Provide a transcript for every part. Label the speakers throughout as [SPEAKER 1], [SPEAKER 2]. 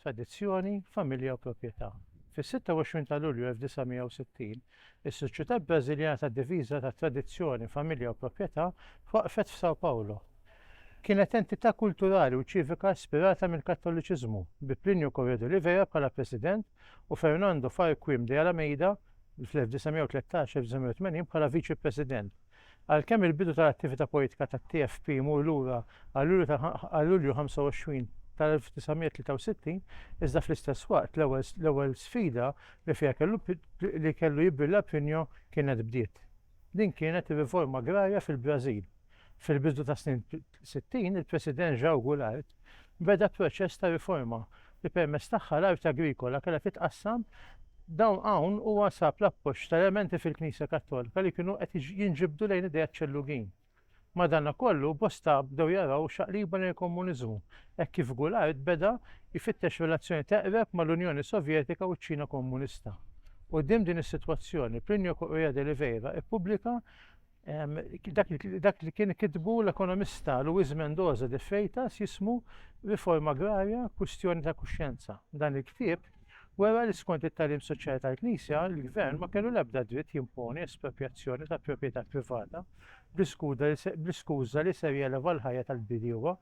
[SPEAKER 1] tradizzjoni, familja u proprjetà. Fis-26 ta' Lulju 1960, is-Soċjetà Brażiljana tad-Diviża ta' Tradizzjoni, Familja u Proprjetà waqfet f'São Paulo. Kienet entità kulturali u ċivika ispirata mill-Kattoliċiżmu, bi Plinio Corrêa de Oliveira bħala president u Fernando Farquim de Alameida fl-1913-1980 bħala viċi-president. Għalkemm il-bidu tal-attività politika tat-TFP jmur lura għal Lulju ta' għal Lulju 25 tal-1963, iżda fl-istess waqt l-ewwel l-ewwel sfida li fiha kellu li kellu jibbrilla Pinho kienet bdiet. Din kienet ir-riforma agrarja fil-Brażil fil-bidu tas-snin 60 il-President João Goulart beda proċess ta' riforma li permezz tagħha l-art agrikola kellha titqassam dawn hawn huwa sab l-appoġġ ta' elementi fil-Knisja Kattolika li kienu qed jinġibdu lejn ideat ċellugin. Madankollu, bosta bdew jaraw xaqliba lejn il-Komuniżmu hekk kif Goulart beda jfittex relazzjoni teqreb mal-Unjoni Sovjetika u ċ-Ċina Komunista. Quddiem din is-sitwazzjoni, Plinio Correia de Oliveira ppubblika Dak li kien kitbu l-ekonomista Luis Mendoza de Freitas jismu Riforma Agrarja, Kwistjoni ta' Kuxjenza. Dan il-ktieb wera li skont it-tagħlim soċjali tal-Knisja, il-gvern ma kellu l-ebda dritt jimponi esproprjazzjoni ta' proprjetà privata bl-iskuża li ser jeleva l-ħajja tal-bdiewa,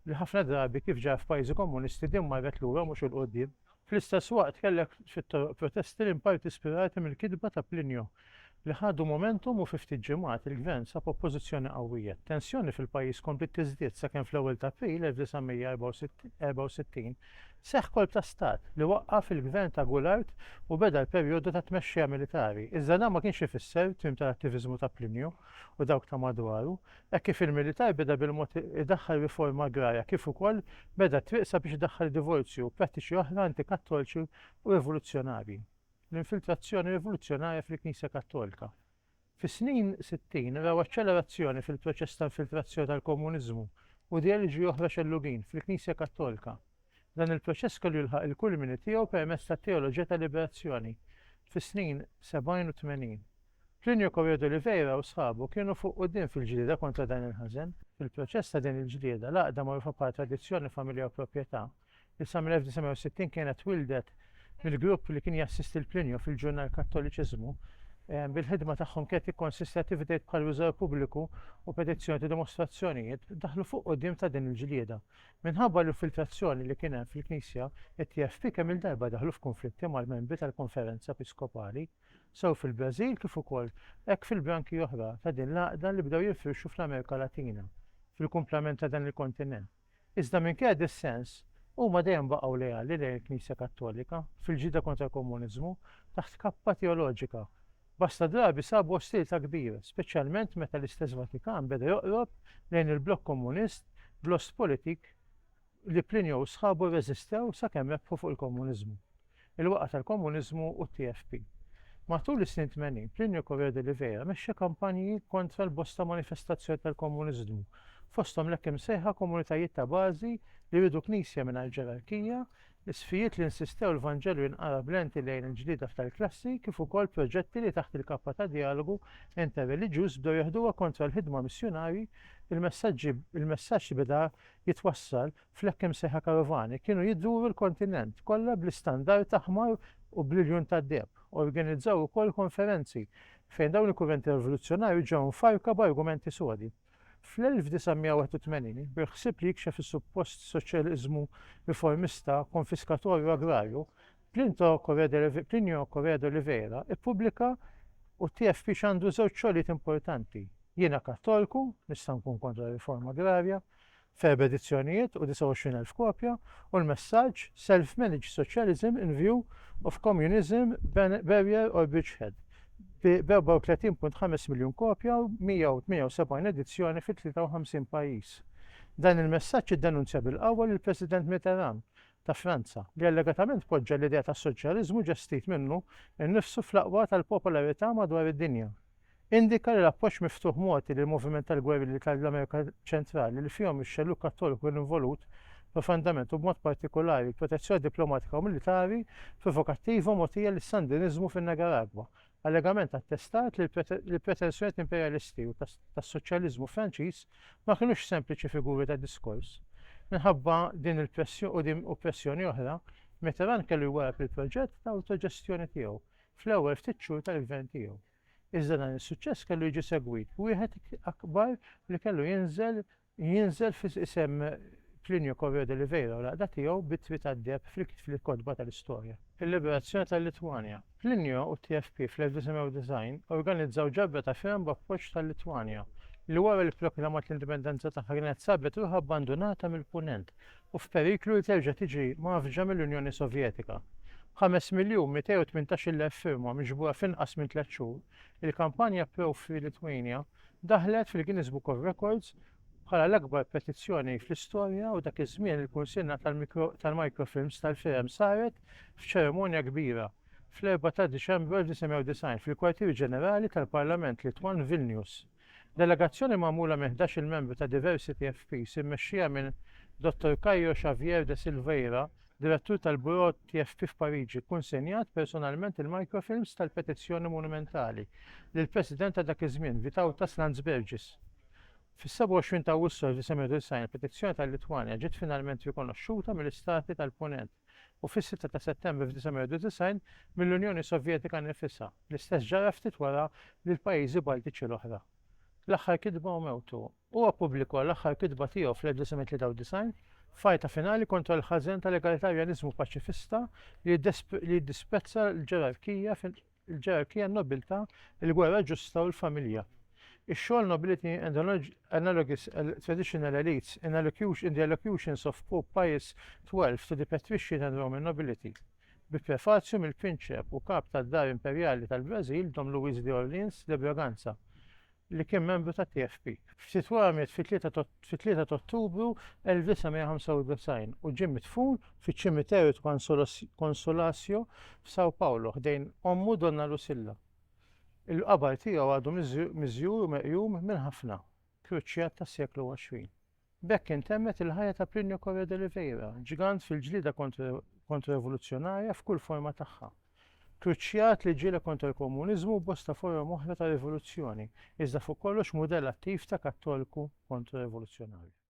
[SPEAKER 1] li ħafna drabi, kif ġara f'pajjiżi komunisti, din marret lura mhux 'il quddiem. Fl-istess waqt kellek xi protesti li inparti spirati mill-kitba ta' Plinio, li ħadu momentum u fi ftit ġimgħat il-gvern sab oppożizzjoni qawwija. Tensjoni fil-pajjiż kompliet tiżdied sakemm fl-ewwel ta' April 1964 seħħ kolp ta' stat li waqqaf il-gvern ta' Goulart u beda l-perjodu ta' tmexxija militari. Iżda dan ma kienx ifisser tmiem tal-attiviżmu ta' Plinio u dawk ta' madwaru, Hekk kif il-militar beda bil-mod idaħħal riforma agrarja kif ukoll beda t-triq sabiex idaħħal id-divorzju u prattiċi oħra antikattolċi u rivoluzzjonarji. L-infiltrazzjoni rivoluzzjonarja fil-Knisja Kattolika. Fis-snin 60 raw aċċelerazzjoni fil-proċess ta' infiltrazzjoni tal-Komuniżmu u ideoloġiji oħra xellugin fil-Knisja Kattolika. Dan il-proċess kellu jilħaq il-kulmini tiegħu permezz tat-teoloġija tal-liberazzjoni fis-snin sebgħin u tmenin. Plinio Correa d'Oliveira u sħabu kienu fuq quddiem fil-ġlieda kontra dan il-ħażen. Fil-proċess ta' din il-ġlieda, l-għaqda magħrufa bħala tradizzjoni, familja u proprjetà, li sa mill-1960 kienet twildet mill-grupp li kien jassisti l Plinio fil-ġurnal Kattoliċiżmu, eh, bil-ħidma tagħhom kienet tikkonsisti attivitajiet bħal riżor pubbliku u petizzjoni ta' dimostrazzjonijiet, daħlu fuq quddiem ta' din il-ġlieda. Minħabba l-infiltrazzjoni li kien hemm fil-Knisja, it-TFP kemm-il darba daħlu f'kunflitti mal-membri tal-Konferenza Episkopali, sew fil-Brażil kif ukoll hekk fil-branki oħra ta' din l-għaqda li bdew jinfirxu fl-Amerika Latina, fil-kumplament ta' dan il-kontinent. Iżda minkejja d-dissens, huma dejjem baqgħu leali lejn il-Knisja Kattolika fil-ġlieda kontra l-komuniżmu taħt kappa teoloġika Bosta drabi sabu ostilità kbira, speċjalment meta l-istess Vatikan beda joqrob lejn il-blokk Komunist bl-ost politik li Plinio u sħabu rreżistew sakemm rebħu fuq il-Komuniżmu, il-waqgħa tal-Komuniżmu u t-TFP. Matul is-snin tmenin, Plinio Correa de Oliveira mexxa kampanji kontra l-bosta manifestazzjoni tal-Komuniżmu, fosthom l-hekk imsejħa komunitajiet ta' bażi li jridu knisja mingħajr ġerarkija, Isfijiet li nsistew l-Vanġelu jinqara b'lenti lejn il-ġlieda f'tal klassi kif ukoll proġetti li taħt il-kappa ta' Djalogu Interreliġjuż bdew jeħduha kontra l-ħidma missjunarji, il-messaġġi il-messaġġ li beda jitwassal fl-hekk imsejħa karovani kienu jduru l-kontinent kollha bl-istandard aħmar u bl-iljun tad-deheb. Organizzaw ukoll konferenzi fejn dawn il-kurrenti rivoluzzjonarji ġew mfarrka b'argumenti sodi. Fl-1981, bil-ħsieb li jikxef is-suppost soċjaliżmu riformista konfiskatorju agrarju, Plinio Correa de Oliveira ppubblika U TFP x'għandu żewġ xogħlijiet importanti, Jiena Kattolku, nista' nkun kontra riforma agrarja, f'erba' edizzjonijiet u 29,000 kopja, u l-messaġġ Self-managed socialism in view of communism barrier or bridgehead b' 34.5 miljun kopja u 178 edizzjoni fi 53 pajjiż. Dan il-messaġġ iddenunzja bil-qawwa lill-President Mitterrand ta' Franza, li allegatament poġġa l-idea tas-soċjaliżmu ġestit minnu nnifsu fl-aqwa tal-popolarità madwar id-dinja. Indika li l-appoġġ miftuħ mogħti lill-moviment tal-gwerilli tal-Amerika Ċentrali, li fihom ix-xellug Kattoliku kien involut profondament u b'mod partikolari l-protezzjoni diplomatika u militari provokattiva mogħtija lis-Sandiniżmu fin-Nigaragwa, allegament attestat li l-pretensjonijiet imperjalisti u tas-soċjaliżmu Franċiż ma kinux sempliċi figuri ta' diskors. Minħabba din il-pressjoni u pressjoni oħra, Mitterrand kellu jwarrab il-proġett ta' awtoġestjoni tiegħu, fl-ewwel ftit xhur tal-gvern tiegħu. Iżda dan is-suċċess kellu jiġi segwit b'wieħed akbar li kellu jinżel jinżel f'isem Plinio Correo de Oliveira u l-għaqda tiegħu b'Ittri tad-Deheb fil-kotba tal-istorja. Il-liberazzjoni tal-Litwanja. Plinio u t-TFP fl-1990 organizzaw ġabra ta' firem b'appoġġ tal-Litwanja, li wara li pproklamat l-indipendenza tagħha kienet sabet ruħha abbandunata mill-Punent, u f'periklu li terġa' tiġi mgħaffġa mill-Unjoni Sovjetika. B'ħames miljun mitej u tmintax-il elf firma miġbura f'inqas minn tliet xhur, il-kampanja Pro-Free Lithuania daħlet fil-Guinness Book of Records bħala l-akbar petizzjoni fl-istorja u dak iż-żmien il-kunsinna tal-mikrofilms tal-firem saret f'ċerimonja kbira fl-4 ta' Diċembru 1990 fil-Kwartier Ġenerali tal-Parlament Litwan f'Vilnius. Delegazzjoni magħmula minn ħdax-il membru ta' Diversity FPs immexxija minn Dottor Caio Xavier de Silveira, Direttur tal-Bureau TFP f'Pariġi, kunsenjat personalment il-microfilms tal-petizzjoni monumentali lill-President ta' dak iż-żmien, Vytautas Landsbergis. Fis-27 ta' Awwissu 1990 il-petizzjoni tal-Litwanja ġiet finalment rikonoxxuta mill-Istati tal-Punent. u fis-sitta ta' Settembru f'1991 mill-Unjoni Sovjetika nnifisha. L-istess ġara ftit wara lill-pajjiżi Baltiċi l-oħra. L-aħħar kitba u mewtu. Huwa ppubblikwa l-aħħar kitba tiegħu fl-1993, f'għajta finali kontra l-ħażen tal-egalitarjaniżmu paċifista li jiddisprezza l-ġerarkija il-ġerarkija, n-nobiltà, il-gwerra ġusta u l-familja. Ix-xogħol Nobility and Analogous Traditional Elites in Allocution in the Allocutions of Pope Pius XII to the Patrician and Roman Nobility, bi prefazju mill-Prinċep u Kap tad-Dar Imperjali tal-Brażil, Dom Luiz de Orleans de Bragança, li kien membru tat-TFP. F'Titwara miet fit-3 t'Ottubru 1995 u ġie midfun fiċ-Ċimiterju t'Consolacio f'São Paulo ħdejn ommu Donna Lucilla. Il-qabar tiegħu għadu miżjur u meqjum minn ħafna kruċjat tas-seklu għoxrin. B'hekk intemmet il-ħajja ta' Plinio Correa de Oliveira, ġgant fil-ġlieda kontro-rivoluzzjonarja f'kull forma tagħha. Kruċjat li ġieled kontra l-komuniżmu u bosta forom oħra ta' rivoluzzjoni, iżda fuq kollox mudell attiv ta' kattolku kontro-rivoluzzjonarju.